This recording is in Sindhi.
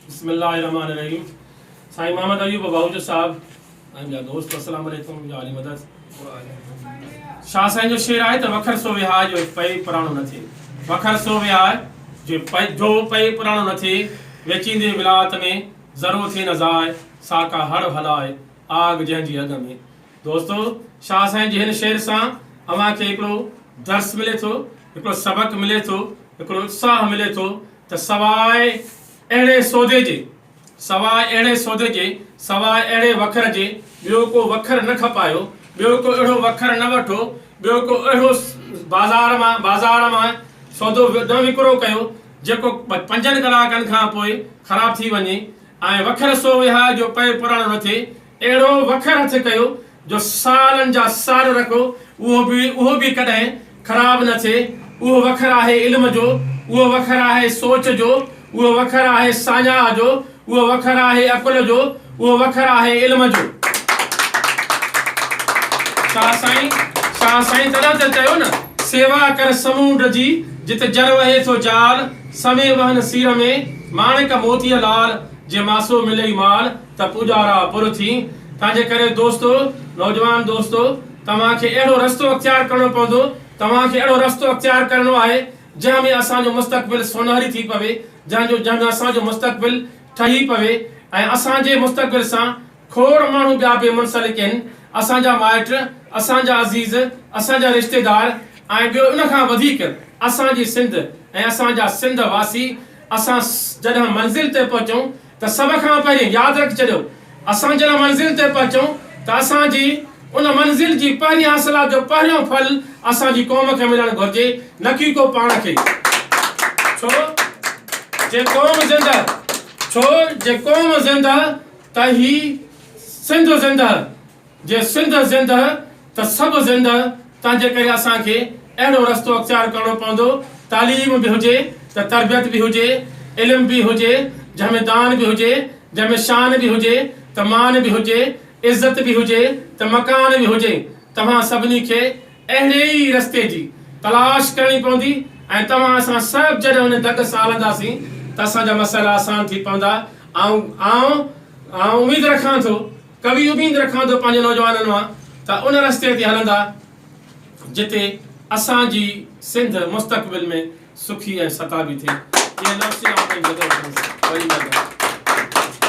بسم الله الرحمٰن الرحيم سائين محمد ايوب باهوچ صاحب ۽ ٻيا دوست السلام عليڪم يا علي مدد شاهه سائين جو شعر آهي ته وکر سو وهاء جو پئي پراڻو نه ٿئي وکر سو وهاء جو پئي جو پئي پراڻو نه ٿئي ويچيندي ولايت ۾ ذرو ٿئي نه ضايع ساڪا هڙ هلاء آگ جنهن جي اڳ ۾ دوستو شاهه سائين جي هن شعر سان اوهان کي هڪڙو درس ملي ٿو هڪڙو سبق ملي ٿو هڪڙو اتساهه ملي ٿو ته سواء اهڙي سوڌي جي، سواء اهڙي سوڌي جي، سواء اهڙي وکر جي، ٻيو ڪو وکر نه کپايو، ٻيو ڪو اهڙو وکر نه وٺو، ٻيو ڪو اهڙو بازار مان، بازار مان، سودو نه وڪرو ڪيو، جيڪو پنجن ڪلاڪن کان پوء خراب ٿي وڃي، ۽ وکر سو وهاء جو پئي پراڻو نه ٿئي، اهڙو وکر هٿ ڪيو جو سالن جا سال رکو اهو به اهو به ڪڏهن خراب نه ٿئي اهو وکر آهي علم جو اهو وکر آهي سوچ جو اهو وکر آهي ساڃاهه جو اهو وکر آهي عقل جو اهو وکر آهي علم جو شاهه سائين شاهه سائين تڏهن ته چيو نه سيوا ڪر سمونڊ جي جت جر وهي ٿو جال سمي وهن سير ۾ ماڻڪ موتيء لال جي ماسو ملئي مال ته پوڄارا پر ٿي تنهنجي ڪري دوستو نوجوان دوستو توهان کي اهڙو رستو اختيار ڪرڻو پوندو توهان کي اهڙو رستو اختيار ڪرڻو آهي جنهن ۾ اسان جو مستقبل سونهري ٿي پوي جنهن جو جنهن ۾ اسان جو مستقبل ٺهي پوي ۽ اسان جي مستقبل سان کوڙ ماڻهو ٻيا به منسلڪ اهن اسان جا مائٽ اسان جا عزيز اسان جا رشتيدار ۽ ٻيو ان کان وڌيڪ اسان جي سنڌ ۽ اسان جا سنڌ واسي اسان جڏهن منزل تي پهچون ته سڀ کان پهرين ياد رکي ڇڏيو اسان جنهن منزل تي پهچون ته اسان جي ان منزل جي پهرين حاصلات جو پهريون ڦل اسان جي قوم کي ملڻ گهرجي نه ڪي ڪو پاڻ کي ڇو جي قوم زنده ڇو جي قوم زنده ته هي سنڌ زنده جي سنڌ زندهه ته سڀ زندهه تنهن جي ڪري اسان کي اهڙو رستو اختيار ڪرڻو پوندو تعليم به هجي ته تربيت به هجي علم به هجي جنهن ۾ دان به هجي جنهن ۾ شان به هجي ته مان به هجي عزت به هجي ته مڪان به هجي توهان سڀني کي اهڙي ئي رستي جي تلاش ڪرڻي پوندي ۽ توهان اسان سڀ جڏهن ان دڳ سان هلنداسين ته اسان جا مسئلا آسان ٿي پوندا آئون آئون اميد رکان ٿو ڪوي اميد رکان ٿو پنهنجي نوجوانن مان ته ان رستي تي هلندا جتي اسان جي سنڌ مستقبل ۾ سکي ۽ ستابي ٿئي. اهي لفظ آئون پنهنجي جدوجهد سان وري ٻڌا.